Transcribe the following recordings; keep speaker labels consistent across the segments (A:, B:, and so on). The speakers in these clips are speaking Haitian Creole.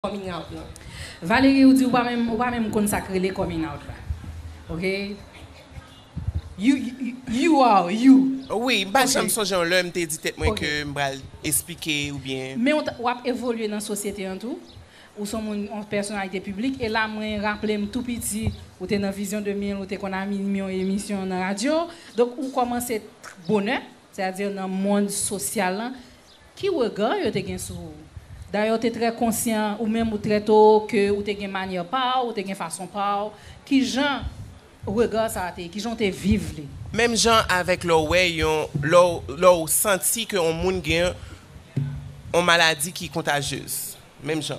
A: coming out lan. Valery ou di ou pa
B: menm ou pa menm konn sak rele coming out la ok you are you. Wi m pa janm
C: sonje yon lè m te di tèt mwen ke m pral esplike oubyen. Men wap evolye
B: nan sosyete an tou ou son moun yon pèsonalite piblik e la mwen raple m tou piti ou te nan vizyon 2000 ou te konn anime yon emisyon nan radyo donk ou komanse bonè sètadi nan mond sosyal lan Ki rega yo te gen sou ou? Dayè ou te trè konsyan, ou menm ou trè toro ke ou te gen manyè pa ou, ou te gen fason pa ou. Ki jan rega sa a te ye? Ki jan ou te viv li? Menm jan avèk
C: lè w wè yon, lè w, lè w santi ke yon moun gen yon maladi ki kontajyez. Menm jan.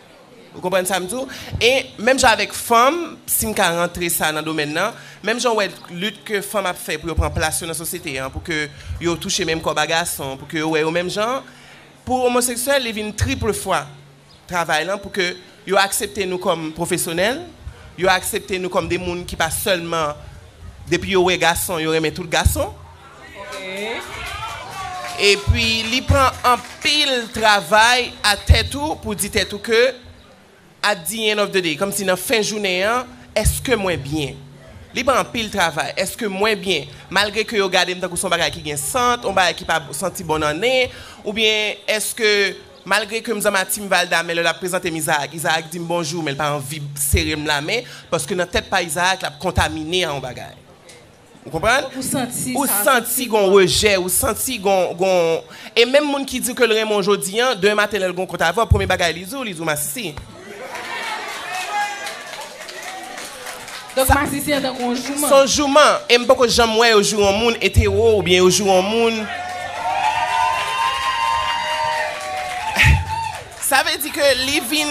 C: Ou konprann sa m di w? E menm jan avèk fanm, si m ka rantre sa nan domèn nan, menm jan ou wè lit ke fanm ap fè pou yo pran plas yo nan sosyete an, pou ke yo touche menm kòb a gason, pou ke yo wè yo menm jan an, pou omoseksyèl li vin triple fwa travay lan pou ke yo aksepte nou kòm pwofesyonèl, yo aksepte nou kòm de moun ki pa sèlman depi yo wè gason yo renmen tout gason. Epi li pran anpil travay a tèt ou pou di tèt ou ke at di end of the day, kòmsi nan fen jounen an, èske mwen byen? Li pran anpil travay, èske mwen byen? Malgre ke yo gade m tankou se yon bagay ki gen sant, yon bagay ki pa santi bon nan nen, oubyen èske malgre ke m zanmi a Team Valda men lè l ap prezante m Izaak, Izaak di m bonjou men l pa anvi sere m lamen paske nan tèt pa Izaak l ap kontamine a yon bagay. Ou konprann? Ou santi sa. Ou santi gon rejè, ou santi gon. E menm moun ki di w ke l renmen w jodi an, demen maten lè l gon kont avè w, premye bagay li di w, li di w masisi.
B: Donk masisi an tankou yon jouman. Se yon jouman. E m
C: poko janm wè yo joure yon moun etero oubyen yo joure yon moun. Sa vle di ke li vin,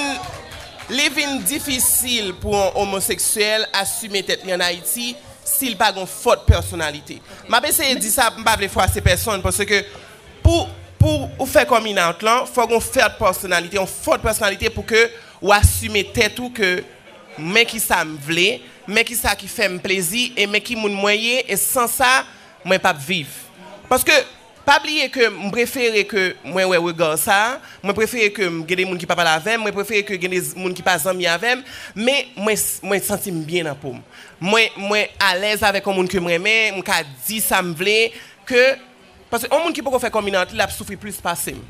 C: li vin difisil pou yon omoseksyèl asime tèt li an Ayiti. si l pa gen yon fòt pèsonalite. M ap eseye di sa, m pa vle fwase pèsonn, paske pou pou ou fè coming out lan, fò gen yon fèrt pèsonalite, yon fòt pèsonalite pou ke ou asime tèt ou ke men ki sa m vle, men ki sa ki fè m plezi e men ki moun mwen ye e san sa mwen p ap viv. Paske Pa bliye ke m prefere ke mwen wè regard sa, mwen prefere ke m gen de moun ki pa pale avè m, mwen prefere ke gen de moun ki pa zanmi avè m, men mwen mwen santi m byen nan po m. Mwen mwen alèz avèk yon moun ke m renmen, m ka di sa m vle, ke paske yon moun ki poko fè coming out li l ap soufri plis pase m.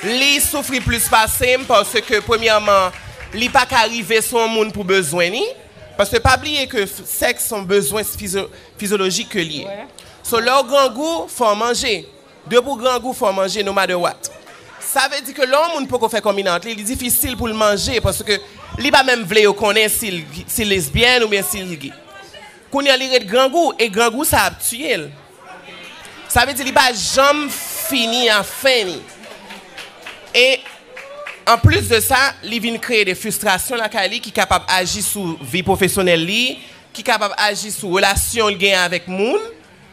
C: Li soufri plis pase m paske premyèman li pa ka rive sou yon moun pou bezwen li, paske pa bliye ke sèks s on bezwen fizyo Fizyolojik ke li ye. So lè ou grangou, fò ou manje. Depi ou grangou, fò ou manje no matter what. Sa vle di ke lè yon moun poko fè coming out li, li difisil pou l manje paske li pa menm vle yo konnen si l si l lesbyèn oubyen si l gay. Kounye an li ret grangou e grangou sa ap tiye l. Sa vle di li pa janm fini a fen li. E an plis de sa, li vin kreye de fistrasyon lakay li ki kapab aji sou vi pwofesyonèl li, Ki kapab aji sou relasyon li genyen avèk moun,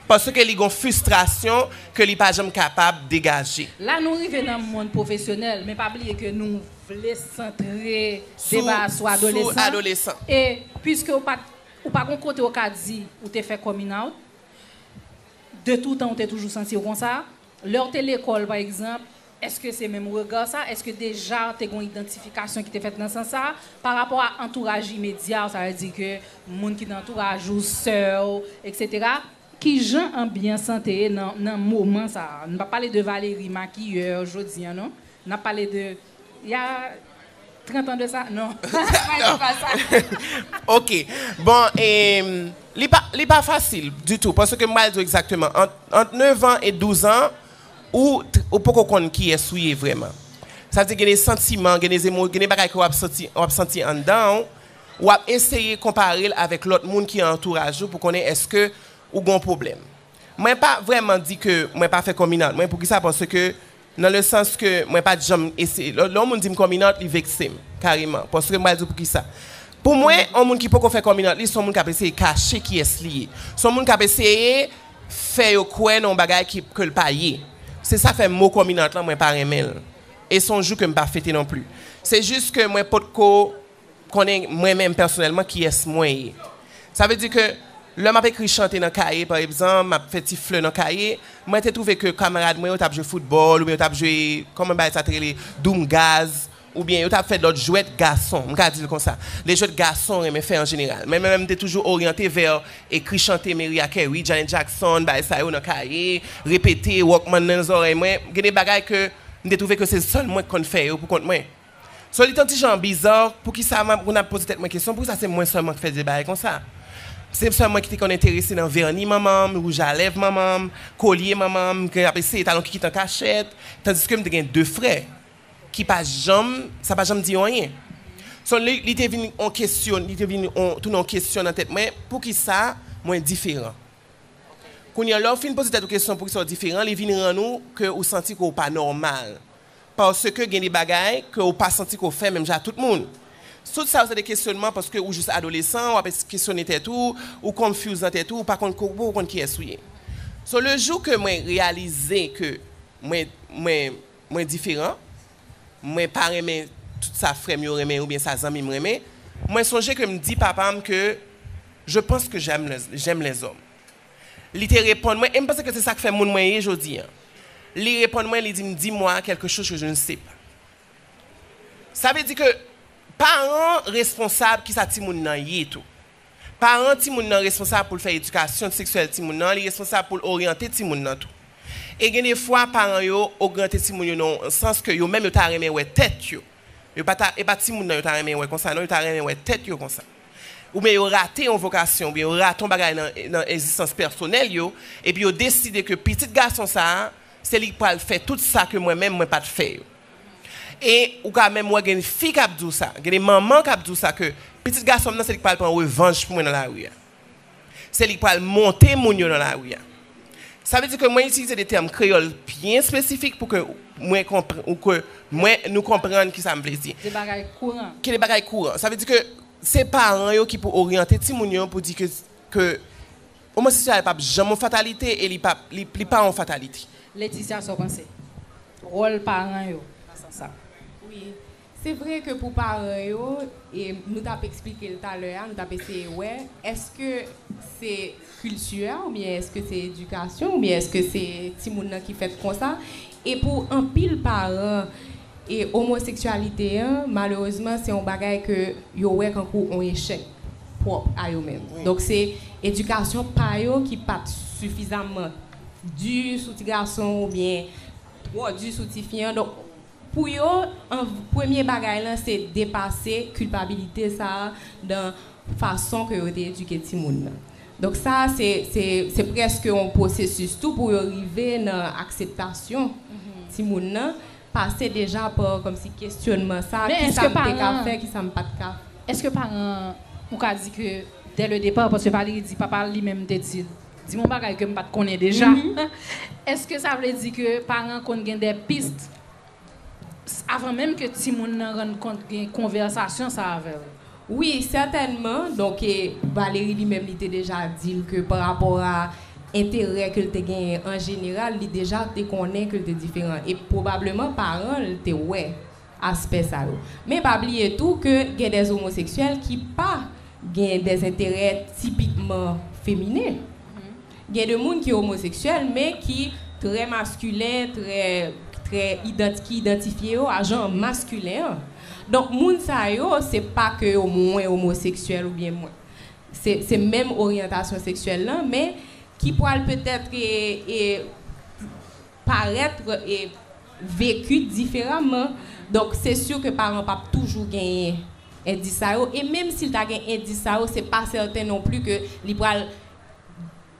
C: paske li gen yon fistrasyon ke li pa janm kapab degaje. La nou rive nan
B: mond pwofesyonèl, men pa bliye ke nou vle santre deba a sou adolesan, e puiske ou pat, ou pa gen kote ou ka di ou te fè coming out, de toutan ou te toujou santi ou konsa? Lè w te lekòl, pa egzanp, èske se menm rega sa? Èske deja te gen yon idantifikasyon ki te fèt nan sans sa a parapò a antouraj imedya w, sa vle di ke moun ki nan antouraj ou, sè w, eksetera? Ki jan anbyans lan te ye nan moman sa a? Nou pa p pale de Valéry makiyè jodi an non. N ap pale de. Ya 30 ans de sa non mwen di pa sa. Ok
C: bon e li pa li pa fasil ditou paske m pral di w egzakteman ant 9 ans e 12 ans ou ou poko konn kiyès ou ye vrèman sa vle di gen de santiman gen de zemo gen de bagay ke w ap santi w ap santi anndan w w ap eseye konpare l avèk lòt moun ki antouraj ou pou konnen èske ou gon pwoblèm. Mwen pa vrèman di ke mwen pa fè kominant mwen, poukisa paske nan le sans ke mwen pat janm eseye, lè yon moun di m kominant li vekse m kareman paske m pral di w poukisa pou mwen yon moun ki poko fè kominant li se yon moun kap eseye kache kiyès li ye se yon moun kap eseye fè yo kwè nan yon bagay ki ke l pa ye se sa fè mo kominant lan mwen pa renmen l e se yon jou ke m pa fete non pli se jis ke mwen potko Konnen mwen menm pèsonèlman kiyès mwen ye. Sa vle di ke lè m ap ekri chante nan kaye pa ebzanp, m ap fè ti flè nan kaye, mwen te twouve ke kamarad mwen yo t ap jwe foutbòl oubyen yo t ap jwe, kòman bagay sa te rele, doum gaz oubyen yo t ap fè lòt jwèt gason, m ka di l konsa, de jwèt gason renmen fè an jeneral. Men mwen menm m te toujou oryante vè ekri chante Meriah Carey, Janet Jackson, bagay sa yo nan kaye, repete, walkman nan zòrèy mwen, gen de bagay ke m te twouve ke se sèl mwen k konn fè yo poukont mwen. So li t on ti jan biza, poukisa m ap konn ap poze tèt mwen kesyon poukisa se mwen sèlman k fè vye bagay konsa. Se sèl mwen ki te konn enterese nan vèni manman m, wouj a lèv manman m, kolye manman m, ke y ap eseye talon kikit an kachèt, tandiske m te gen de frè ki pa janm, sa pa janm di yo anyen. So li li te vin on kesyon, li te vin on, tounen on kesyon nan tèt mwen, poukisa mwen diferan. Kounye a lè w fin poze tèt ou kesyon poukisa w diferan, li vin rann ou ke ou santi ke w pa nòmal. Paske gen de bagay ke ou pa santi ke w fè menm jan ak tout moun. Tout sa yo se de kesyonman paske ou jis adolesan, w ap kesyone tèt ou, ou confuse nan tèt ou, ou pa konn ke ou poko konn kiyès ou ye. So le jou ke mwen reyalize ke mwen mwen mwen diferan, mwen pa renmen tout sa frè m yo renmen oubyen sa zanmi m renmen, mwen sonje ke m di papa m ke je panse ke j'aime les hommes. Li te reponn mwen, e m panse ke se sa k fè moun mwen ye jodi an. Li reponn mwen, li di m, Dis-moi quelque chose que je ne sais pas. Sa vle di ke paran responsab ki sa timoun nan ye tou. Paran timoun nan responsab pou l fè edikasyon seksyèl timoun nan, li responsab pou l oryante timoun nan tou. E gen de fwa paran yo ogryante timoun yo nan yon sans ke yo menm yo ta renmen wè tèt yo. Yo pa ta, e pa timoun nan yo ta renmen wè konsa non, yo ta renmen wè tèt yo konsa. oubyen yo rate yon vokasyon, oubyen yo rate yon bagay nan egzistans pèsonèl yo, epi yo deside ke pitit gason sa a, se li ki pral fè tout sa ke mwen menm mwen pa t fè yo. E ou ka menm wè gen fi k ap di w sa, gen de manman k ap di w sa ke pitit gason m nan se li ki pral pran revanj pou mwen nan lari a. Se li ki pral monte moun yo nan lari a. Sa vle di ke mwen itilize de tèm kreyòl byen espesifik pou ke mwen konpran, ou ke mwen, nou konprann ki sa m vle di. De bagay kouran.
B: Ki de bagay kouran. Sa
C: vle di ke se paran yo ki pou oryante timoun yo pou di ke, ke omoseksyalite pa p janm yon fatalite e li pa, li pa yon fatalite. Laetitia, sa w panse?
B: Wòl paran yo nan sans sa? Wi.
A: Se vre ke pou paran yo, e nou t ap esplike l talè a, nou t ap eseye wè, èske se kilti a oubyen èske se edikasyon oubyen èske se timoun nan ki fèt konsa? E pou anpil paran, e omoseksyalite an, malerezman, se yon bagay ke yo wè kankou yon echèk pwòp a yo menm. Donk se edikasyon pa yo ki pa t sifizamman di sou ti gason oubyen twò di sou tifi an. Pou yo, an premye bagay lan se depase kilpabilite sa a dan fason ke yo te edike timoun nan. Donk sa a se se se prèske yon pwosesis tou pou yo rive nan akseptasyon timoun nan, pase deja pa kòmsi kesyonman sa a, kisa m te ka fè,
B: kisa
A: m pa t ka. Èske paran an
B: ou ka di ke dè le depar, paske Valérie di papa l li menm te di l. Di m yon bagay ke m pa t konnen deja. Èske sa vle di ke paran konn gen de pist avan menm ke timoun nan rann kont gen konvèsasyon sa avè l? Wi,
A: sètènman. Donk, Valérie li menm li te deja di l ke pa rapò a enterè ke l te genyen an jeneral, li deja te konnen ke l te diferan. E pwobableman paran l te wè aspè sa yo. Men pa bliye tou ke gen des omoseksyèl ki pa gen des enterè tipikman feminen. Gen de moun ki omoseksyèl men ki trè maskilen, trè, trè idant, ki idantifye yo a jan maskilen an. Donk moun sa yo se pa ke yo mwen omoseksyèl oubyen mwen. Se, se menm oryantasyon seksyèl lan men ki pwal petèt e, e. parètre e vecu diferaman donk se sur ke paran pap toujou genyen endis sa yo e menm sil ta gen endis sa yo se pa sèten non pli ke li pral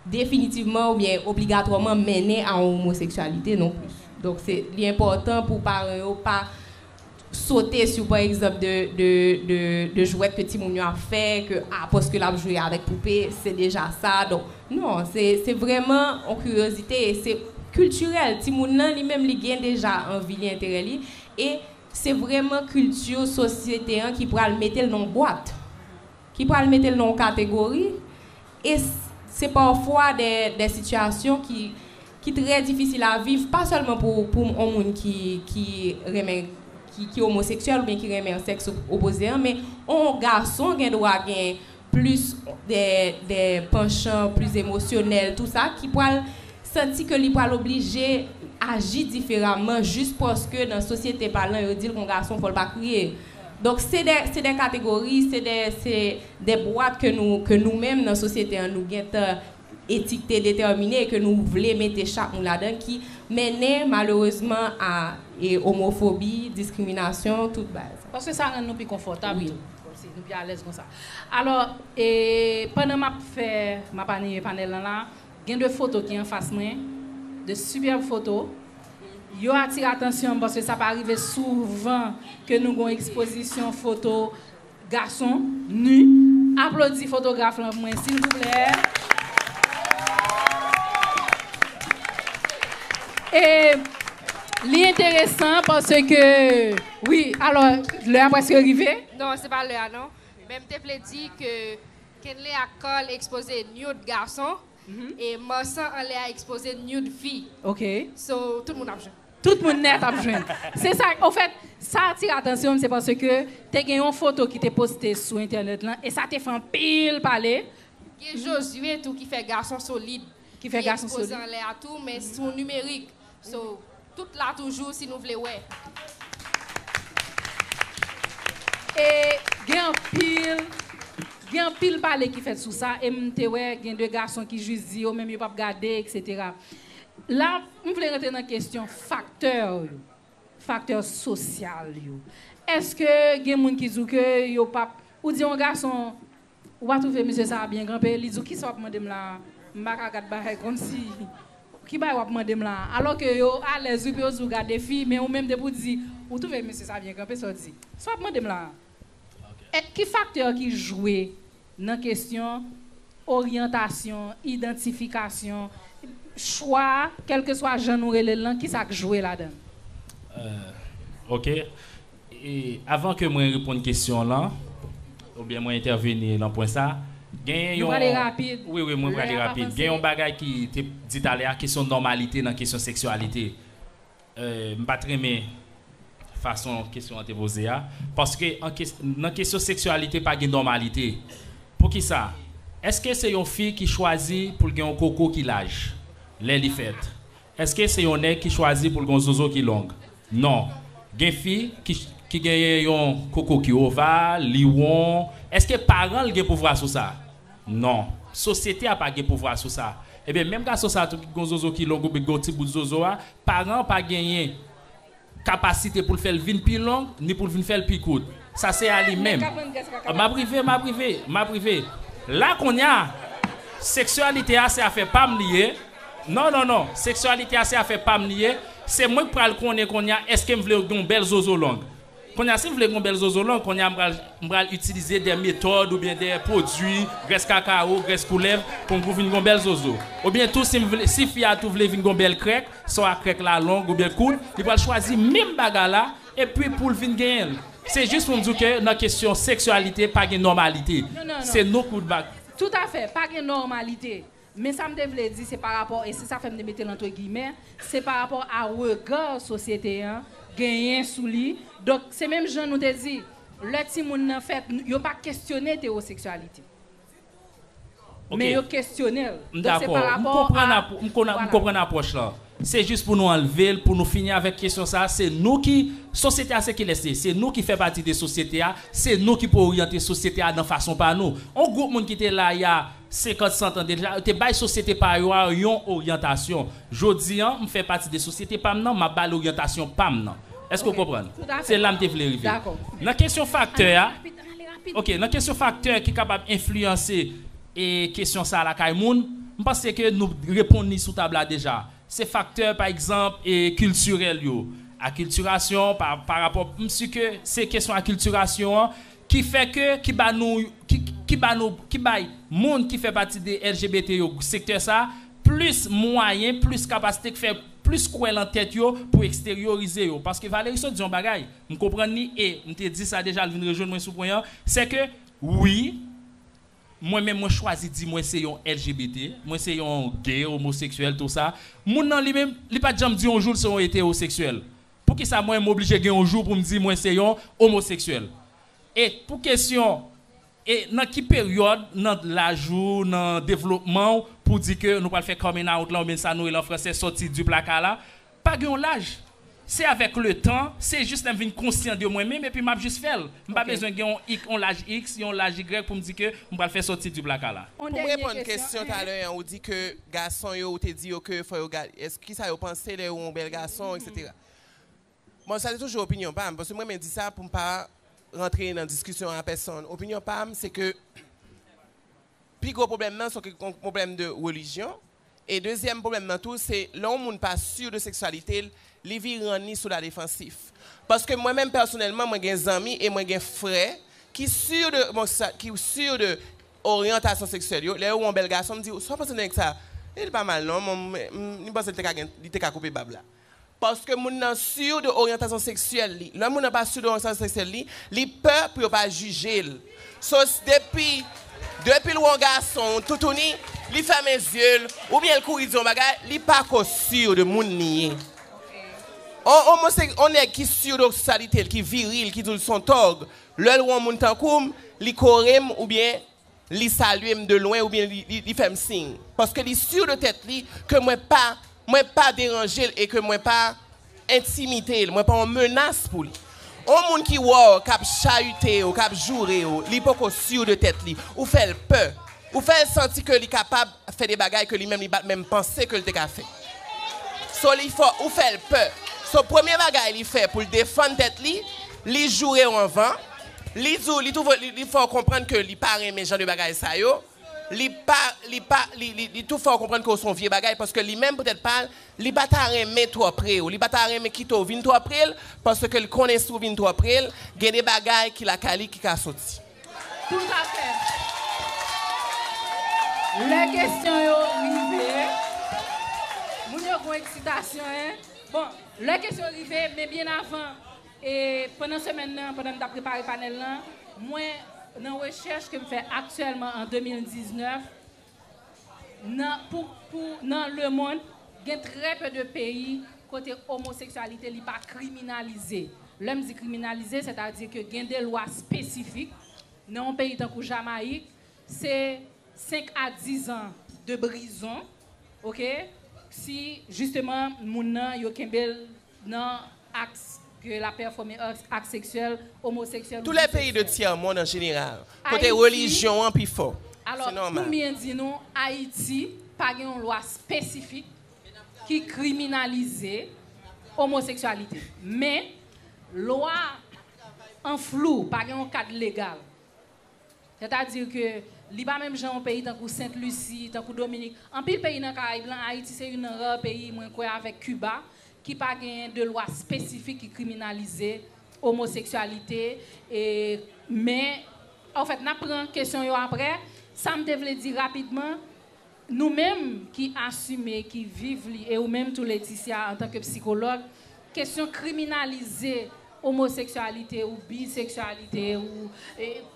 A: definitivman ou byen obligatwaman mennen a yon omoseksyalite non plis donk se li enpòtan pou paran yo pa sote sou pa egzanp de jwèt ke timoun yo ap fè ke a paske lap jwe avèk poupe se deja sa donk non se vrèman yon kiryozite e se kiltirèl timoun nan li menm li gen deja anvi li enterè li e se vrèman kilti sosyete an ki pral metel nan yon bwat ki pral metel nan yon kategori. E se pafwa de de sitiyasyon ki ki trè difisil a viv, pa sèlman pou pou on moun ki ki renmen ki ki omoseksyèl oubyen ki renmen sèks opoze an, men on gason gen dwa gen plis de de panchan plis emosyonèl tou sa ki pral santi ke li pral oblije aji diferaman jis paske nan sosyete palan yo di l kon gason fò l pa kriye. Donk se de se de kategori, se de se. de bwat ke nou ke nou menm nan sosyete an nou gentan etikte detèmine e ke nou vle mete chak moun ladan ki mennen malerezman a e omofobi, diskriminasyon, tout bagay sa. Paske sa rann nou pi
B: konfòtab tou. Kòmsi nou pi
A: alèz
B: konsa. Alò e pandan m ap fè m ap anime panèl lan la a, gen de foto ki anfas mwen, de sipèb foto. Yo atire atansyon m paske sa pa rive souvan ke nou gen yon ekspozisyon foto. Gason nu aplodi fotograf lan pou mwen silvouplè e li enteresan paske wi alò lè a preske rive. Non se pa lè a non
D: men m te vle di ke Kenley ak Carl ekspoze nude gason e Marsan anlè a ekspoze nude fi ok so
B: tout moun ap
D: jwenn. Tout moun nèt ap
B: jwenn. Se sa, ofèt, sa atire atansyon m se paske te gen yon foto ki te poste sou entènèt lan e sa te fè anpil pale. Gen Josué
D: tou ki fè gason solid, ki ekspoze
B: anlè a tou men
D: sou nimerik. So, tout la toujou si nou vle wè.
B: E gen anpil, gen anpil pale ki fèt sou sa e m te wè gen de gason ki jis di yo menm yo p ap gade eksetera. La, m vle rantre nan kesyon faktè yo, faktè sosyal yo. Eske gen moun ki di w ke yo pa p, ou di yon gason, ou pa twouve mesye sa a byen kanpe, li di w kisa w ap mande m la a, m pa ka gad bagay konsi, ki bagay w ap mande m la a? Alò ke yo alèz wi pou yo di w gade fi, men ou menm depi w di, ou twouve mesye sa a byen kanpe, sa w di? Sa w ap mande m la a? Ki faktè ki jwe nan kesyon oryantasyon, idantifikasyon, chwa, kèlkeswa jan nou rele l lan, ki sa k jwe ladan l?
E: Ok. Avan ke mwen reponn kesyon w lan, oubyen mwen entèveni lan pwen sa, genyen yon. Nou prale
B: rapid. Wi, wi, mwen prale rapid.
E: Gen yon bagay ki te dit ale a, kesyon nòmalite nan kesyon seksyalite. M pa t renmen fason kesyon an te poze a. Paske nan kesyon seksyalite pa gen nòmalite. Poukisa? Èske se yon fi ki chwazi pou l gen yon koko ki laj lè li fèt? Èske se yon nèg ki chwazi pou l gen yon zozo ki long? Non. Gen fi ki genyen yon koko ki oval, li won. Èske paran l gen pouvwa sou sa? Non. Sosyete a pa gen pouvwa sou sa. Ebyen, menm gason sa a tou ki gen yon zozo ki long oubyen ki gen yon ti bout zozo a, paran an pa genyen kapasite pou l fè l vin pi long ni pou l vin fè l pi kout. Sa se a li menm. M ap rive, m ap rive, m ap rive. La kounye a, seksyalite a se afè pa m li ye. Non, non, non. Seksyalite a se afè pa m li ye. Se mwen k pral konnen kounye a èske m vle yo gen yon bèl zozo long. Konya sim vle gon bèl zozo long konya m pral m pral itilize dè metòd oubyen dè pwodwi grès kakawo grès koulèv pou m pou vin gon bèl zozo oubyen tou sim vle si fi a tou vle vin gon bèl krèk swa krèk la long oubyen kout li pral chwazi menm bagay la epi poul vin genyen l se jis pou m di w ke nan kesyon seksyalite pa gen nòmalite se nou kout
B: bak.
E: Tout afè, pa gen
B: nòmalite. Men sa m te vle di se pa rapò, e se sa fè m te mete l antre giyimè, se pa rapò a rega sosyete an genyen sou li. Donk, se menm jan nou te di, lè timoun nan fèt, yo pa kesyone etewoseksyalite. Men yo kesyone l. M dakò. M
E: konprann apw, m konprann apwòch lan. Se jis pou nou anlve l, pou nou fini avèk kesyon sa a. Se nou ki, sosyete a se kilès li ye? Se nou ki fè pati de sosyete a. Se nou ki pou oryante sosyete a nan fason pa nou. On gwoup moun ki te la y a 50, 100 tan deja, yo te bay sosyete pa yo a yon oryantasyon. Jodi an, m fè pati de sosyete pa m nan, m ap ba l oryantasyon pa m nan. Èske w konprann? Se la m te vle rive. Nan kesyon
B: faktè
E: a, ok, nan kesyon faktè ki kapab enfliyanse kesyon sa a lakay moun, m panse ke nou reponn li sou tab la deja. Se faktè, pa egzanp, kiltirèl yo, akiltirasyon, pa rapò, m si ke se kesyon akiltirasyon an ki fè ke, ki ba nou, ki, ki ba nou, ki bay moun ki fè pati de LGBT yo, sektè sa, plis mwayen, plis kapasite, k fè plis kwè lan tèt yo pou eksteryorize yo. Paske Valéry sot di yon bagay, m konprann li e m te di sa deja, l vin rejwenn mwen sou pwen an, sè ke wi, mwen menm mwen chwazi di mwen se yon LGBT, mwen se yon gay, omoseksyèl, tou sa, moun nan li menm, li pa t janm di yon jou l se yon etewoseksyèl. Poukisa mwen m oblije gen yon jou pou m di mwen se yon omoseksyèl? E pou kesyon e nan ki peryòd nan laj ou, nan devlopman ou pou di ke nou pral fè coming out la oubyen sa nou rele an fransè sòti di plaka la, pa gen yon laj. Se avèk le tan, se jis lè m vin konsyan de mwen menm epi m ap jis fè l. M pa bezwen gen yon laj iks, yon laj igrèk pou m di ke m pral fè sòti di plaka la. Pou m reponn kesyon
C: talè an ou di ke Gason yo ou te di yo ke fò yo gad kisa yo panse lè yo wè yon bèl gason etc. Bon sa se toujou opinyon pam paske m renmen di sa pou m pa rantre nan diskisyon a pèsonn. Opinyon pam se ke pi gwo pwoblèm nan se yon pwoblèm de relijyon e dezyèm pwoblèm nan tou se lè yon moun pa si de seksyalite l li vire rann li sou ladefansif paske mwen menm pèsonèlman mwen gen zanmi e mwen gen frè ki si de ki si de oryantasyon seksyèl yo, lè yo wè yon bèl gason, m di, sa w panse nèg sa, e li pa mal non, mwen m panse li te ka gen, li te ka koupe bab la. Paske moun nan sur de oryantasyon seksyèl li. Lè moun nan pa sur de oryantasyon seksyèl li, li pè pou yo pa jije l. So depi, depi l wè yon gason, yon toutouni, li fèmen zye l, oubyen l kouri di yon bagay, li pa ko sur de moun li ye. On omosek, on nèg ki sur de okssalite l, ki viril, ki di w l s on tòg, Lè l wè yon moun tankou m, li kore m oubyen li salye m de lwen oubyen li fè m siy. Paske li sur de tèt li ke mwen pa mwen pa deranje l e ke mwen pa entimide l, mwen pa yon menas pou li. Yon moun ki wè w k ap chayite w, k ap joure w, li poko sur de tèt li. Ou fè l pè. Ou fè l santi ke li kapab fè de bagay ke li menm li pa t menm panse ke l te ka fè. So li fè ou fè l pè. So premye bagay li fè pou l defann tèt li, li joure w anvan, li di w, li twouve, li fè w konprann ke li pa renmen jan de bagay sa yo, li pa, li pa, li, li, li tou fè w konprann ke w se yon vye bagay paske li menm pou tèt pa l, li pa ta renmen twò pre w, li pa ta renmen kite w vin twò pre l paske l konnen si w vin twò pre l, gen de bagay ki lakay li ki ka soti. Toutafè.
B: Lè kesyon yo rive, moun yo gon eksitasyon hein. Bon, lè kesyon rive, men byen avan, e pandan semèn nan, pandan m tap prepare panèl lan, mwen nan rechèch ke m fè aktyèlman an 2019, nan pou pou nan le mond gen trè pe de peyi kote omoseksyalite li pa kriminalize. Lè m di kriminalize sètadi ke gen de lwa spesifik nan yon peyi tankou Jamayik se 5 a 10 an de brizon ok si jisteman moun nan yo kenbe l nan aks ke la pèfòme aks seksyèl omoseksyèl ou biseksyèl. Tou lè peyi de tyè
C: mond an jeneral, kote relijyon an pi fò, se nòmal. Pou m byen
B: di nou, Ayiti pa gen yon lwa espesifik ki kriminalize omoseksyalite. Men, lwa an flou, pa gen yon kad legal. Sètadi ke li pa menm jan yon peyi tankou Sent Lisi, tankou Dominik. Anpil peyi nan Karayib lan, Ayiti se youn nan rare peyi, mwen kwè avèk Kiba, ki pa genyen de lwa espesifik ki kriminalize omoseksyalite. E, men, ofèt, n ap pran kesyon yo aprè. Sa m te vle di rapidman. Nou menm ki asime, ki viv li e ou menm tou Leticia antanke psikològ, kesyon kriminalize omoseksyalite ou biseksyalite ou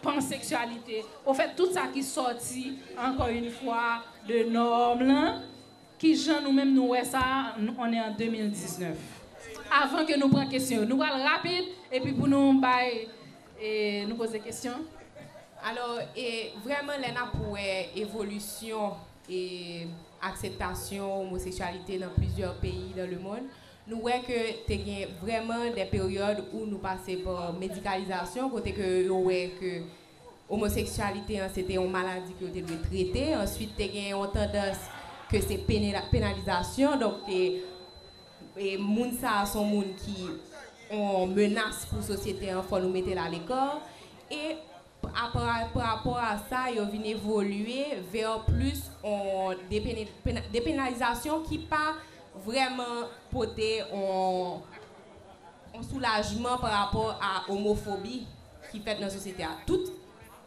B: panseksyalite, ofèt tout sa ki sòti ankò yn fwa de nòm lan, ki jan nou menm nou wè sa, on est en 2019. Avan ke nou pran kesyon yo. Nou pral rapid epi pou nou bay. Nou poze kesyon. Alò,
A: e vrèman lè n ap wè evolisyon e akseptasyon omoseksyalite nan plizyè peyi dan lemonn, nou wè ke te gen vrèman dè peryòd ou nou pase pa medikalizasyon kote ke yo wè ke omoseksyalite an se te yon maladi ke yo te dwe trete, answit te gen yon tandans ke se penalizasyon, donk te. Moun sa a son moun ki on menas pou sosyete an fò nou mete l a lekò e parapò a sa yo vin evolye vè plis on depenalizasyon ki pa vrèman pote on soulajman parapò a omofobi ki fèt nan sosyete a.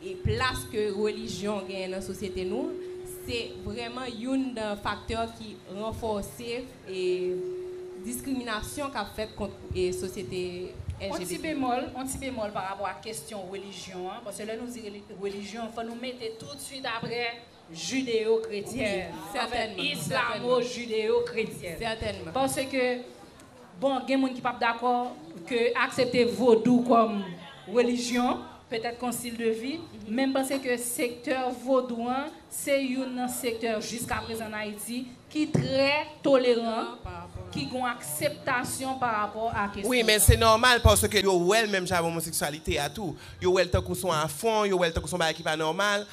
A: E plas ke relijyon genyen nan sosyete nou an, se vrèman youn nan faktè ki ranfòse e diskriminasyon k ap fèt kont e sosyete LGBT. On ti bemòl, on ti
B: bemòl pa rapò ak kesyon relijyon an, paske lè nou di reli, relijyon, fò nou mete toutswit aprè jideyokretyen avèk
A: islamojideyokretyen paske
B: bon gen moun ki pap dakò ke aksepte vodou kòm relijyon petèt kon stil de vi men m panse ke sektè vodou an se youn nan sektè jiskaprezan an Ayiti ki trè toleran ki gon akseptasyon parapò a kesyon sa. Wi men se nòmal
C: paske yo wè l menm jan avèk omoseksyalite a tou yo wè l tankou son afwon yo wè l tankou son bagay ki pa nòmal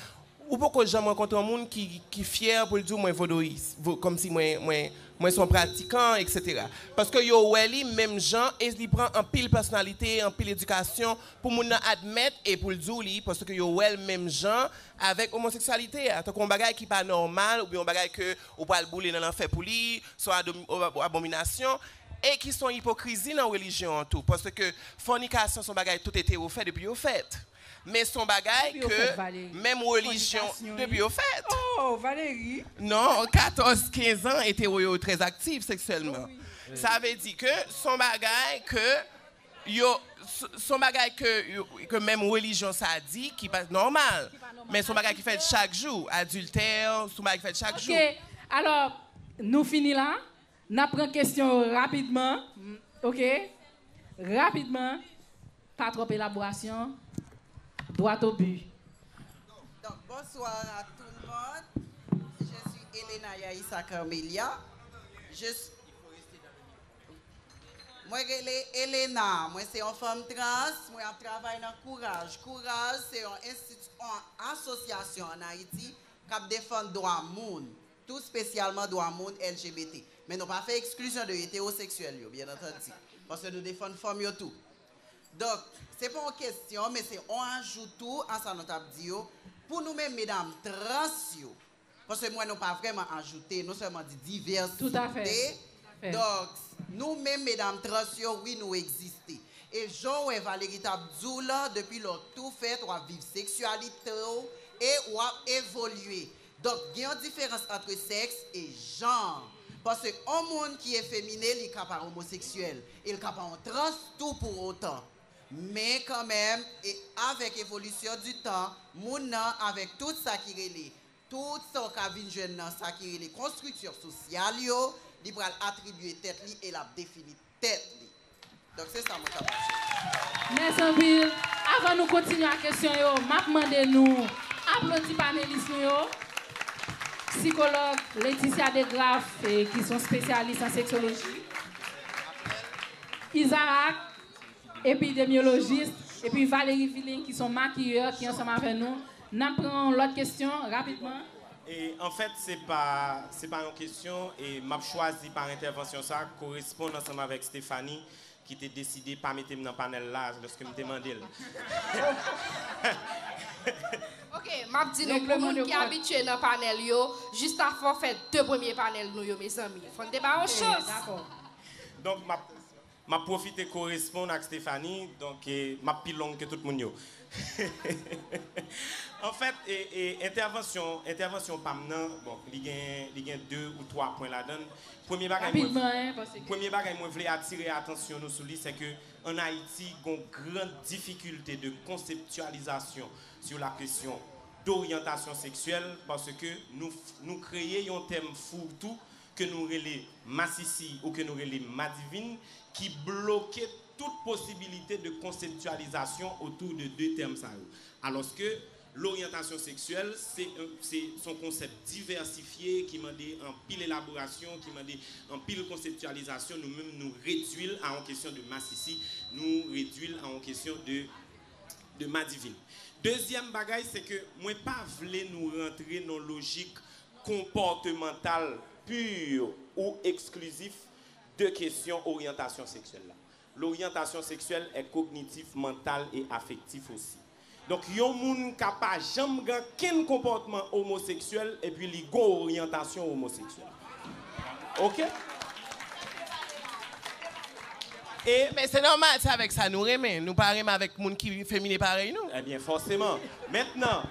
C: Ou poko janm rankontre yon moun ki fyè pou l di w mwen vodouyis, kòmsi mwen se yon pratikan eksetera. Paske yo wè li menm jan e li pran anpil pèsonalite, anpil edikasyon pou moun nan admèt e pou l di w li paske yo wè l menm jan avèk omoseksyalite a, tankou yon bagay ki pa nòmal oubyen yon bagay ke ou pral boule nan lanfè pou li, se yon abominasyon. E ki se yon ipokrizi nan relijyon an tou paske fònikasyon se yon bagay tout etero fè depi yo fèt. Men son bagay ke menm relijyon depi yo fèt.
B: Non 14 15
C: an etero yo trè aktif seksyèlman. Sa vle di ke son bagay ke yo son bagay ke menm relijyon sa di ki pa nòmal. Men son bagay ki fèt chak jou. Adiltè son bagay ki fèt chak jou. Ok alò
B: nou fini la. N ap pran kesyon yo rapidman ok. Rapidman, pa twòp elaborasyon, dwat o bi. Donk,
F: bonsoir a tou l mond, je suis Elena Yaissa Carmelia, je suis, mwen rele Elena, mwen se yon fanm trans, mwen ap travay nan Kouraj. Kouraj se yon enstiti, yon asosyasyon an Ayiti k ap defann dwa moun. tou spesyalman dwa moun LGBT, men nou pa fè eksklizyon de etewoseksyèl yo, byen antandi, paske nou defann fanm yo tou. Donk, se pa yon kesyon, men se yon ajou tou a sa nou t ap di yo, pou nou menm medam trans yo, paske m wè nou pa vrèman ajoute, nou sèlman di divèsite,
B: donk,
F: nou menm medam trans yo, wi nou egziste. E jan w wè Valery t ap di w lan, depi lè w tou fèt, w ap viv seksyalite w e w ap evolye. Donk gen yon diferans antre sèks e janr. Pase on moun ki efemine li ka pa omoseksyèl e l ka pa on trans tou pou on tan. Men kanmenm e avèk evolisyon di tan, moun nan avèk tout sa ki rele, tout sa w ka vin jwenn nan sa ki rele konstriksyon sosyal yo, li pral atribye tèt li e l ap defini. tèt li. Donk se sa mwen ta pral chèche. Mèsi
B: anpil. Avan nou kontinye ak kesyon yo, m ap mande nou aplodi panelis nou yo. Psikològ Laetitia DeGraff ki son spesyalis an seksyoloji, Isaac epidemyolojis epi Valerie Villing ki son makiyè ki ansanm avè nou. N ap pran yon lòt kesyon rapidman. Anfèt,
G: se pa se pa yon kesyon e m ap chwazi pa entèvansyon sa a koresponn ansanm avèk Stéphanie ki te deside pa mete m nan panèl la lòske m te mande l.
D: Ok, m ap di nou pou moun ki abitye nan panèl yo, Jista fò fè de premye panèl nou yo mezanmi. Fò n te ba yo chans!
B: Donk m ap
G: Map pwofite koresponn ak Stéphanie donk map pi long ke tout moun yo. Anfèt entèvansyon entèvansyon pam nan bon li gen li gen 2 ou 3 pwen ladann. Premye bagay mwen vle premye bagay mwen vle atire atansyon nou sou li se ke an Ayiti gon gran difikilte de konseptyalizasyon sou la kesyon doryantasyon seksyèl paske nou nou kreye yon tèm fourre-tout ke nou rele masisi ou ke nou rele madivin ki bloke tout posibilite de konseptyalizasyon otou de 2 tèm sa yo. Alòske loryantasyon seksyèl se se son konsèp divèsifye ki mande anpil elaborasyon, ki mande anpil konseptyalizasyon, nou menm nou redui l a yon kesyon de masisi, nou redui l a yon kesyon de de madivin. Dezyèm bagay se ke mwen pa vle nou rantre nan lojik konpòtemantal pur ou eksklizif de kesyon oryantasyon seksyèl la. Loryantasyon seksyèl è kognitif, mantal e afektif osi. Donk yon moun ka pa janm gen ankenn konpòtman omoseksyèl epi li gon oryantasyon omoseksyèl. Ok?
C: E. Men se nòmal, se avèk sa nou renmen. Nou pa renmen avèk moun ki femine parèy nou. Ebyen fòseman.
G: Mentnan,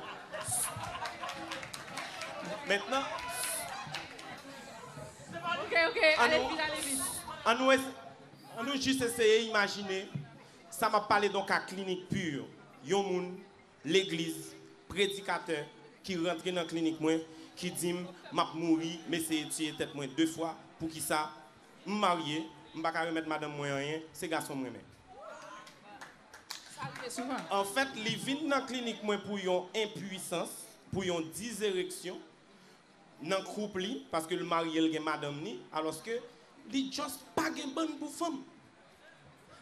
B: Mentnan,
G: an nou jis eseye imajine sa m ap pale don ka klinik pur, yon moun legliz, predikatè, ki rantre nan klinik mwen, ki di m, m ap mouri, m eseye tiye tèt mwen de fwa, poukisa? M marye, m pa ka remèt madanm mwen anyen, se gason m renmen. Sa rive souvan. Anfèt, li vin nan klinik mwen pou yon enpuisans, pou yon dizereksyon nan koup li, paske l marye l gen madanm li, alòske li just pa gen bann pou fanm.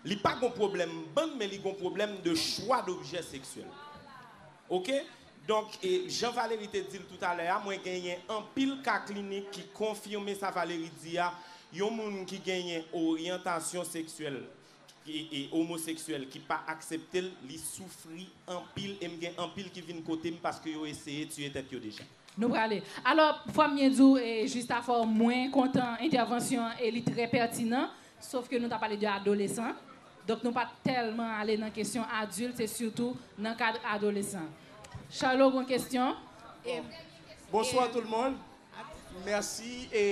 G: Li pa gon pwoblèm bann men li gon pwoblèm de chwa dobjè seksyèl. Ok? Donk, jan Valérie te di l toutalè a, mwen genyen anpil ka klinik ki konfime sa Valérie di a, yon moun ki genyen oryantasyon seksyèl e omoseksyèl ki pa aksepte l, li soufri anpil e m gen anpil ki vin kote m paske yo eseye tiye tèt yo deja. Nou prale.
B: Alò, fò m byen di w, Justafor, mwen kontan entèvansyon an e li trè pètinan, sof ke nou ta pale de adolesan, donk nou pa tèlman ale nan kesyon adilt, se sitou nan kad adolesan. Charlot gen yon kesyon.
H: Bonswa tout moun. Mèsi e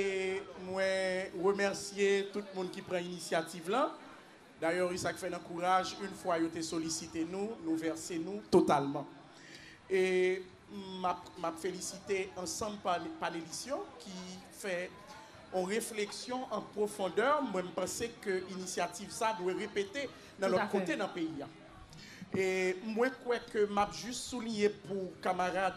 H: mwen remèsye tout moun ki pran inisyativ lan. Dayè e sa k fè nan kouraj yn fwa yo te solisite nou, nou vèse nou totalman. E m ap m ap felisite ansanm panelis yo ki fè on refleksyon an pwofondè, mwen m panse ke inisyativ sa dwe repete nan lòt kote nan peyi a. E mwen kwè ke m ap jis souliye pou kamarad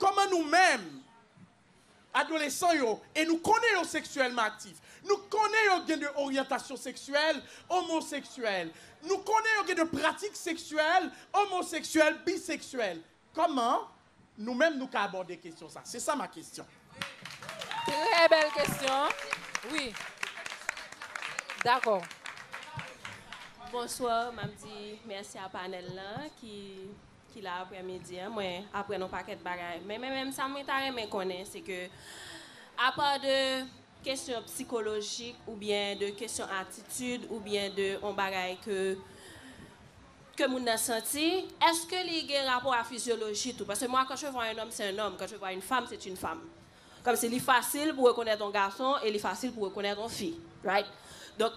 H: Kòman nou menm, adolesan yo, e nou konnen yo seksyèlman aktif, nou konnen yo gen de oryantasyon seksyèl omoseksyèl, nou konnen yo gen de pratik seksyèl omoseksyèl, biseksyèl, kòman nou menm nou ka abòde kesyon sa? Se sa ma kesyon. Trè
B: bèl kesyon. Wi. Dakò. Bonsoir,
I: map di merci a panel lan ki. ki la aprè midi an mwen aprann yon pakèt bagay men men men sa mwen ta renmen konnen se ke apa de kesyon psikolojik ou byen de kesyon atitid ou byen de yon bagay ke ke moun nan santi eske li gen rapò a fizyoloji tou paske mwa kan je vwa un homme c'est un homme kan je vwa une femme c'est une femme kòmsi li fasil pou rekonèt yon gason e li fasil pou rekonèt yon fi right donk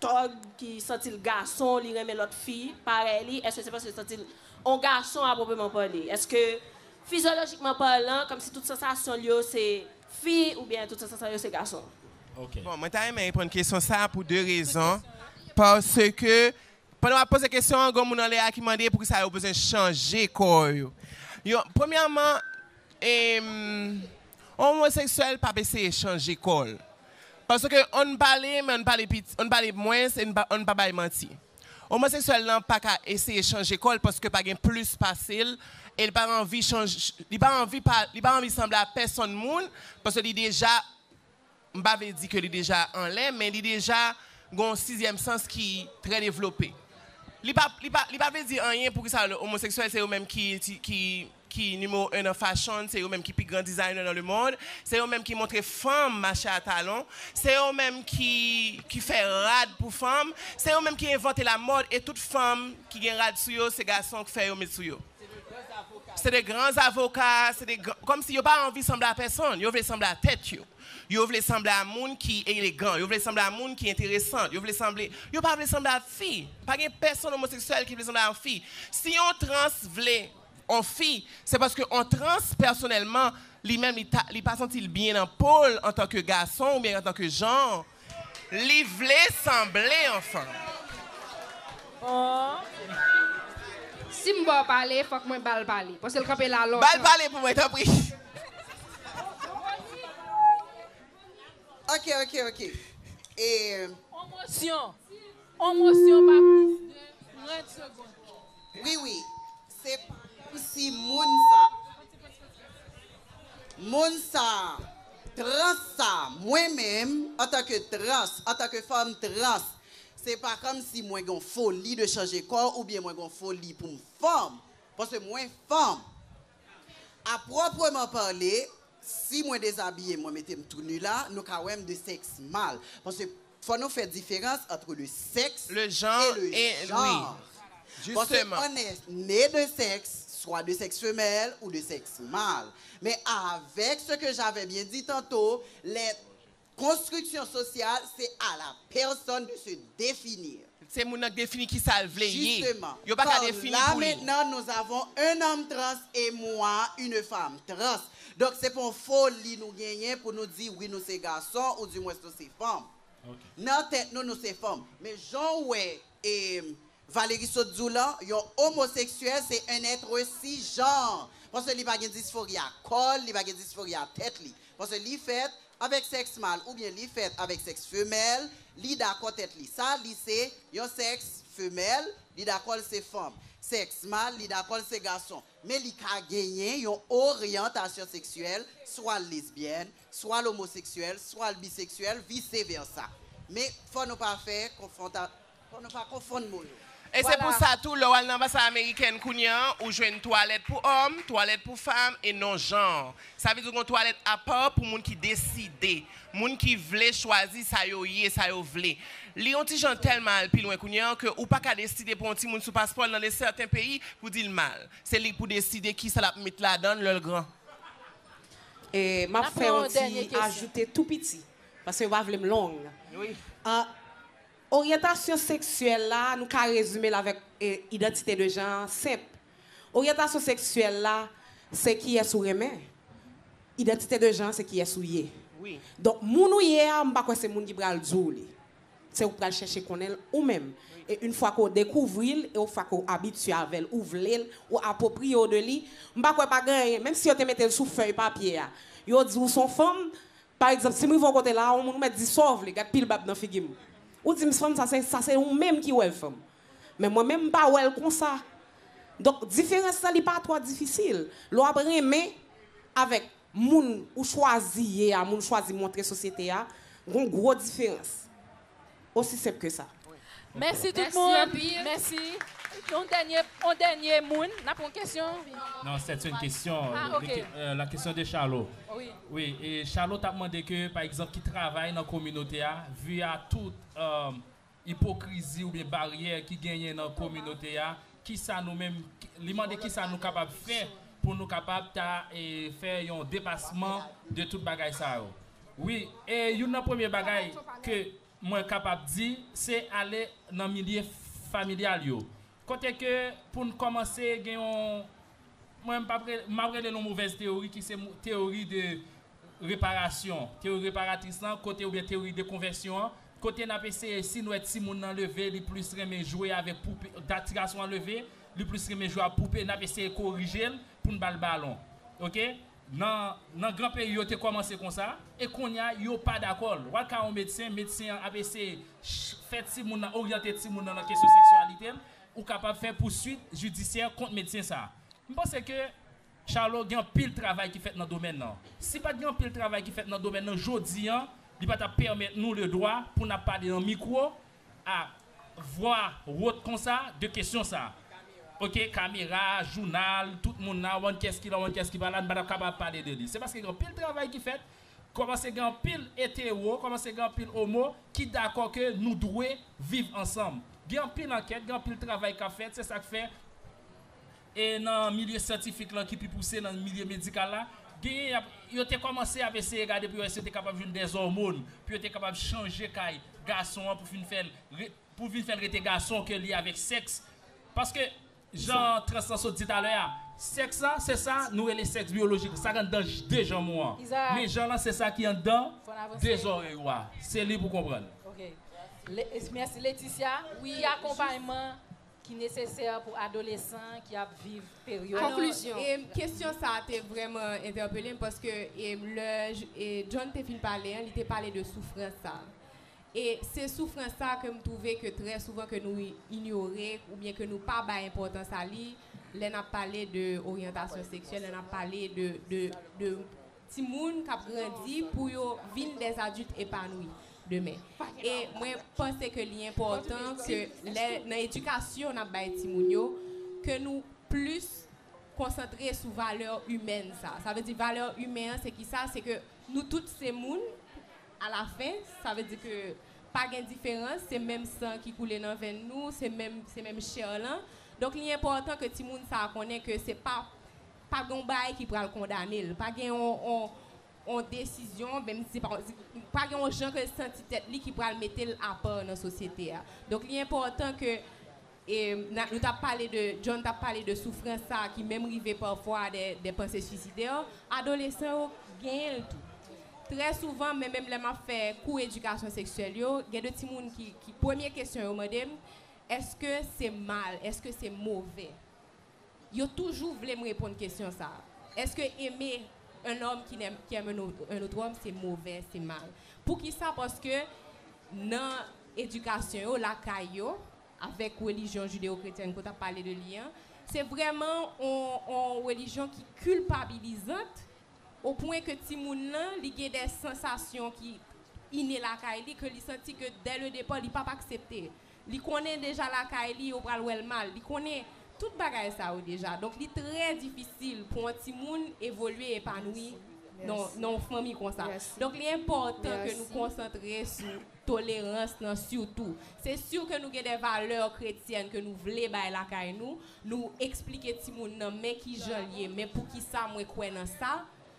I: Tòg ki santi l gason li renmen lòt fi parèy li èske se paske l santi l on gason a pwopreman pale èske fizyolojikman palan kòmsi tout sansasyon l yo se fi oubyen tout sansasyon l yo se gason. Bon mwen ta
C: renmen reponn kesyon sa pou 2 rezon paske pandan wap poze kesyon an gon moun anlè a ki mande poukisa yo bezwen chanje kò yo yon premyèman on omoseksyèl pap eseye chanje kò l Paske ann pale men ann pale piti, ann pale mwens e ann pa bay manti. Omoseksyèl lan pa ka eseye chanje kò l paske pa gen plis pase l e l pa anvi chanje, li pa anvi pa, li pa anvi sanble a pèsonn moun paske li deja, m pa vle di ke li deja anlè men li deja gen yon sizyèm sans ki trè devlope. Li pa, li pa, li pa vle di anyen poukisa omoseksyèl se yo menm ki, ki. ki nimewo 1 nan fashion, se yo menm ki pi gran designer nan le mond, se yo menm ki montre fanm mache a talon, se yo menm ki ki fè rad pou fanm, se yo menm ki envante la mòd e tout fanm ki gen rad sou yo se gason k fè yo met sou yo. Se de gran zavoka, se de gran, kòm si yo pa anvi sanble a pèsonn, yo vle sanble a tèt yo, yo vle sanble a moun ki elegan, yo vle sanble a moun ki enteresant, yo vle sanble, yo pa vle sanble a fi, pa gen pèsonn omoseksyèl ki vle sanble a yon fi, si yon trans vle on fi, se paske on trans pèsonèlman li menm li ta li pa santi l byen nan po l antanke gason oubyen antanke jan li vle sanble an fanm. Aww.
D: Si m ba w pale, fòk mwen ba l pale. Paske l kanpe la lontan. Ba l pale pou mwen tanpri.
C: Ok,
F: ok, ok. E. On mosyon.
B: On mosyon pa plis de 30 segond. Wi wi
F: se pa komsi moun sa moun sa trans sa mwen menm antan ke trans antan ke fanm trans se pa komsi mwen gon foli de chanje kò oubyen mwen gon foli poum fanm paske mwen fanm A proprement parler, si mwen dezabiye mwen mete m tou nu la, nou ka wè m de sèks mal. Paske fò nou fè diferans entre le sexe et le genre. Paske
C: on est
F: né de sexe, soit de sexe femelle ou de sexe male. Men avèk ce que j'avais bien dit tantôt, lè. Konstriksyon sosyal se a la pèsòn de se definir. Se moun nan k defini
C: ki sa l vle ye. Justement, Yo pa ka car
F: defini là pou li.
C: maintenant nous
F: avons un homme trans et moi une femme trans. Donk se pa yon foli nou genyen pou nou di wi nou se gason ou di mwens nou se fanm. Nan tèt nou nou se fanm. Men jan w wè e Valery sot di w lan yon omoseksyèl se yn etre si janr paske li pa gen disforya kò l li pa gen disforya tèt li paske li fèt avèk sèks mal oubyen li fèt avèk sèks femèl li dakò tèt li sa li se yon sèks femèl li dakò l se fanm sèks mal li dakò l se gason Men li ka genyen yon oryantasyon seksyèl, swa l lesbyèn, swa l omoseksyèl, swa l biseksyèl, vise vèsa. Men, fò nou pa fè konfwonta, fò nou pa konfonn mo yo. E se pou sa
C: tou, lè w al nan anbasad amerikèn kounye an, ou jwenn twalèt pou òm, twalèt pou fanm, e non janr. Sa vle di ou gen yon twalèt apa pou moun ki deside. Moun ki vle chwazi sa yo ye, sa yo vle. Li yon ti jan tèlman al pi lwen kounye an ke ou pa ka deside pou yon timoun sou paspò l nan de sèten peyi pou di l mal. Se li pou deside kisa l ap met ladan l lè l gran.
J: E m ap fè yon ti ajoute tou piti, paske yo pa vle m long. Oryantasyon seksyèl la, nou ka rezime l avèk idantite de jan an senp. Oryantasyon seksyèl la se kiyès ou renmen. Idantite de jan se kiyès ou ye. Donk
C: moun ou ye
J: a m pa kwè se moun ki pral di w li. Se ou k pral chèche konnen l ou menm. E yn fwa ke w dekouvri l e w fwa ke w abitye avè l, ou vle l, ou apwopriye w de li, m pa kwè pa gen anyen, menm si yo te mete l sou fèy papye a, yo di w s on fanm, pa egzanp si m rive yon kote la a, on moun ou mèt di sa w vle, gad pil bab nan figi m. Ou di m s fanm sa se ou menm ki wè l fanm. Men mwen menm m pa wè l konsa. Donk diferans lan li pa twò difisil. Lè w ap renmen avèk moun ou chwazi ye a, moun ou chwazi montre sosyete a, gen yon gwo diferans. Osi senp ke sa. Mèsi tout
B: moun. Mèsi. Yon dènye, yon dènye moun. N ap pran kesyon? Non, sèt se yon
E: kesyon. Ah ok. La
B: question de Charlot.
E: Wi. Wi, e
B: Charlot
E: t ap mande ke pa egzanp ki travay nan kominote a, vu a tout ipokrizi oubyen baryè ki genyen nan kominote a, kisa nou menm, li mande kisa nou kapab fè pou nou kapab ta fè yon depasman de tout bagay sa yo. Wi, e youn nan premye bagay ke mwen kapab di, se ale nan milye familyal yo. Kote ke pou n kòmanse gen yon. Mwen m ap rele l yon movèz teyori ki se teyori de reparasyon, teyori reparatris lan kote oubyen teyori de konvèsyon an kote n ap eseye si n wè timoun nan leve li plis renmen jwe avèk poupe dat ti gason an leve li plis renmen jwe ak poupe n ap eseye korije l pou n ba l balon ok nan gran peyi yo te kòmanse konsa e konnya yo pa dakò l wal ka yon medsen medsen an ap eseye fè timoun nan oryante timoun nan nan kesyon seksyalite l. Ou kapab fè pouswit jidisyè kont medsen sa a. M panse ke Charlot gen anpil travay ki fèt nan domèn nan. Si pat gen anpil travay ki fèt nan domèn nan jodi an, li pa tap pèmèt nou le dwa pou nap pale nan mikwo a vwa wot konsa de kesyon sa a. Ok, kamera, jounal, tout moun la, w an kès ki la, w an kès ki pa la, n pa tap kapab pale de li. Se paske gen anpil travay ki fèt Kòmanse gen anpil etero, kòmanse gen anpil omo ki dakò ke nou dwe viv ansanm. Gen anpil ankèt, gen anpil travay k ap fèt, se sa k fè e nan milye syantifik lan ki pi pouse, nan milye medikal la, genyen y ap, yo te kòmanse ap eseye gade pou yo wè si yo te kapab jwenn dè zòmon pou yo te kapab chanje kay gason an pou fin fè l, pou vin fè l rete gason ke li avèk sèks paske. Jan trans lan sot di talè a, sèks la se sa nou rele sèks biyolojik, sa k anndan de janm ou an. Men jan lan se sa ki anndan de zòrèy ou a. Se li pou konprann. Ok.
B: Mèsi Leticia. Ki akonpayman ki nesesè pou adolesan ki ap viv peryòd. Konklisyon.
A: Kesyon sa a te vrèman entèpele m paske lè John te fin pale an, li te pale de soufrans sa a. E se soufrans sa a ke m twouve ke trè souvan ke nou inyore oubyen ke nou pa bay enpòtans a li lè n ap pale de oryantasyon seksyèl, lè n ap pale de timoun k ap grandi pou yo vin dè adilt epanwi demen. E mwen panse ke li enpòtan ke lè nan edikasyon n ap bay timoun yo, ke nou plis konsantre sou valè imèn sa a. Sa vle di valè imen an se kisa? Se ke nou tout se moun. A la fen, sa vle di ke pa gen diferans, se menm san ki koule nan venn nou, se menm, se menm chè lan. Donk li enpòtan ke timoun sa a konnen ke se pa, pa gen yon bagay ki pral kondane l, pa gen yon, yon, yon desizyon, menm si se pa yon, pa gen yon jan ke l santi tèt li ki pral mete l apa nan sosyete a. Donk li enpòtan ke E na, nou tap pale de, John tap pale de soufrans sa a ki menm rive pafwa a dè, dè panse suicidè, adolesan yo genyen l tou. Trè souvan, men menm lè map fè kou edikasyon seksyèl yo, gen de timoun ki, ki premye kesyon yo mande m, èske se mal, èske se move? Yo toujou vle m reponn kesyon sa a. Èske aimer un homme qui n'aime, qui aime un autre, un autre homme se move, se mal? Poukisa? Paske nan edikasyon yo, lakay yo, avèk relijyon jideyokretyèn ke w t ap pale de li an, se vrèman yon relijyon ki kilpabilizant o pwen ke timoun lan li gen dè sansasyon ki ine lakay li ke li santi ke dè le depa li p ap aksepte. Li konnen deja lakay li yo pral wè l mal, li konnen tout bagay sa yo deja. Donk li trè difisil pou yon timoun evolye, epanouyi nan yon fanmi konsa. Donk li enpòtan ke nou konsantre sou. tolerans nan sitou. Se siw ke nou gen de valè kretyèn ke nou vle bay lakay nou, nou eksplike timoun nan men kijanl ye, men poukisa mwen kwè nan sa,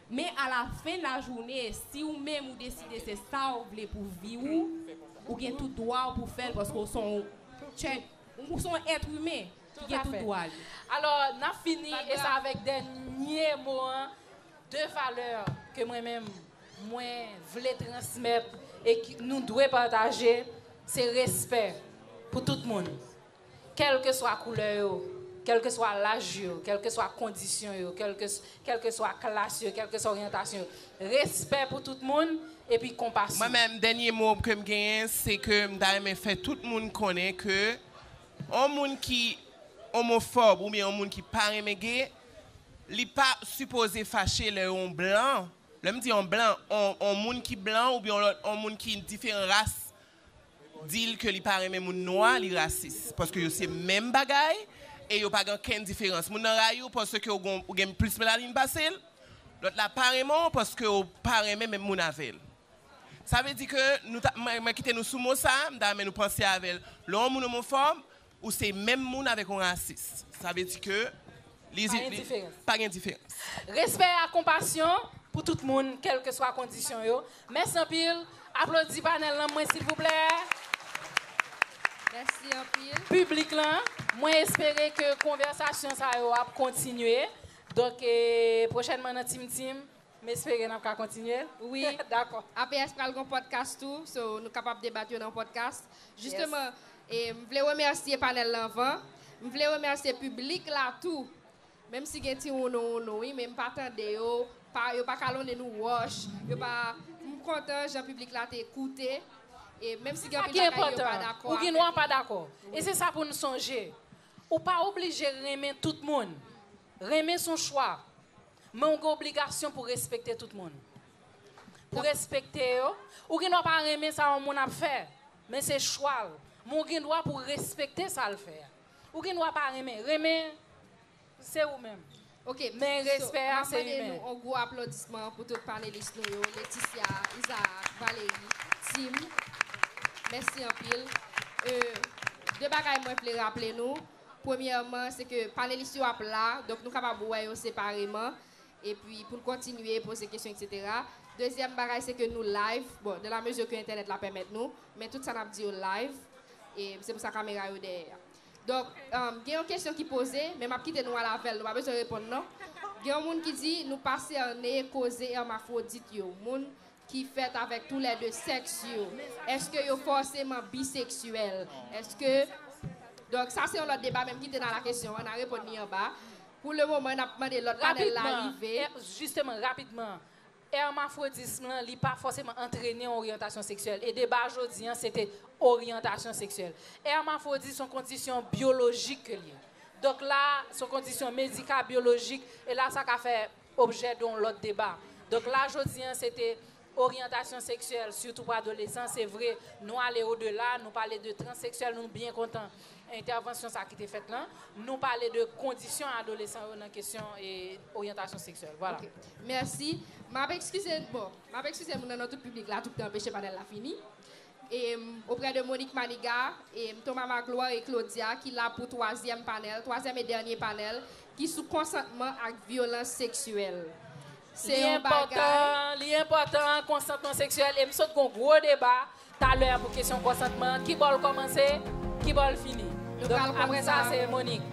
A: men a la fen la joune si ou menm ou deside se sa'w vle pou vi ou, ou gen tout dwa'w pou fèl paske ou son'w chèt, ou son'w èt imen ki gen tout dwa li. Alò
B: nap fini e sa avèk dènye mo an, de valè ke mwen menm mwen vle transmèt e nou dwe pataje se respè pou tout moun kèlkeswa koulè yo kèlkeswa laj yo kèlkeswa kondisyon yo kèlkeswa klas yo kèlkeswa oryantasyon yo respè pou tout moun epi konpasyon. Mwen menm dènye mo
C: ke m genyen se ke m ta renmen fè tout moun konnen ke yon moun ki omofòb oubyen yon moun ki pa renmen ge li pa sipoze fache lè yon blan Lè m di yon blan, yon moun ki blan oubyen yon lòt yon moun ki diferan ras di l ke li pa renmen moun nwa, li rasis. Paske yo se menm bagay e yo pa gen okenn diferans. Moun nan rayi w paske ou gen plis melanine pase l, lòt la pa renmen w paske ou pa renmen menm moun avè l. Sa vle di ke, mwen kite nou sou mo sa, m ta renmen nou panse avè l. Lè yon moun omofòb, Ou se menm moun avèk yon rasis. Sa vle di ke li pa gen diferans. Respè ak
B: konpasyon pou tout moun kèlkeswa kondisyon yo. Mèsi anpil. Aplodi panèl lan mwen silvouplè.
D: Mèsi anpil. Piblik lan,
B: mwen espere ke konvèsasyon sa yo ap kontinye. Donk pwochènman nan Tim Tim. M espere nap ka kontinye wi dakò.
D: APS pral gon podcast tou so nou kapab debat yo nan podcast justement e m vle remèsye panel lan anvan m vle remèsye piblik la tou menm si gen ti wounou wounou wi men m pa tande yo pa yo pa kalonnen nou wòch yo pa m kontan jan piblik la te koute e menm si gen anpil bagay yo pa dakò
B: avèk nou pa dakò e se sa pou n sonje ou pa oblije renmen tout moun renmen s on chwa Men ou gen obligasyon pou respekte tout moun. Pou respekte yo, ou gen dwa pa renmen sa yon moun ap fè, men se chwa l, men ou gen dwa pou w respekte sa l fè a. Ou gen dwa pa renmen, renmen se ou menm. Ok, men
D: respè a
B: se imen. Map mande nou on gwo aplodisman
D: pou tout panelis nou yo, Leticia, Isaac, Valerie, Tim. Mèsi anpil. Euh, 2 bagay mwen vle raple nou, Premyèman, se ke panelis yo ap la, donk nou kapab wè yo separeman, epi pou n kontinye poze kesyon eksetera. Dezyèm bagay, se ke nou live, bon, dan la mezi ke entènèt la pèmèt nou, men tout sa n ap di yo live, e se pou sa kamera yo dèyè a. Donk, gen yon kesyon ki poze, men m ap kite nou al avè l, nou pa bezwen reponn non. Gen yon moun ki di nou pa sène koze èmafwodit yo, moun ki fèt avèk tou lè 2 sèks yo, èske yo fòseman biseksyèl? Èske, donk sa se yon lòt deba menm kite nan la kesyon an, na reponn li anba. Pou le moman n ap mande lòt panèl la rive. Rapidman, jisteman, rapidman,
B: èrmafwodism lan li pa fòseman antrene yon oryantasyon seksyèl e deba jodi an se te oryantasyon seksyèl. Èrmafwodit s on kondisyon byolojik ke l ye. Donk la, s on kondisyon medika-byolojik e la sa ka fè. objè de yon lòt deba. Donk la jodi an se te oryantasyon seksyèl sitou pou adolesan, se vre nou ale odela, nou pale de transseksyèl, nou byen kontan entèvansyon sa ki te fèt lan, nou pale de kondisyon adolesan yo nan kesyon oryantasyon seksyèl. Vwala. Mèsi.
D: M ap ekskize, bon, m ap ekskize moun nan nan tout piblik la tout tan anpeche panèl la fini. Auprès de Monique Maniga, Thomas Magloire et Claudia ki la pou twazyèm panèl, twazyèm e dènye panèl ki sou konsantman ak vyolans seksyèl. Se yon
B: bagay. Li enpòtan, konsantman seksyèl e m sot gen yon gwo deba talè a pou kesyon konsantman an. Kibò l kòmanse, kibò l fini. Donk apre sa se Monique.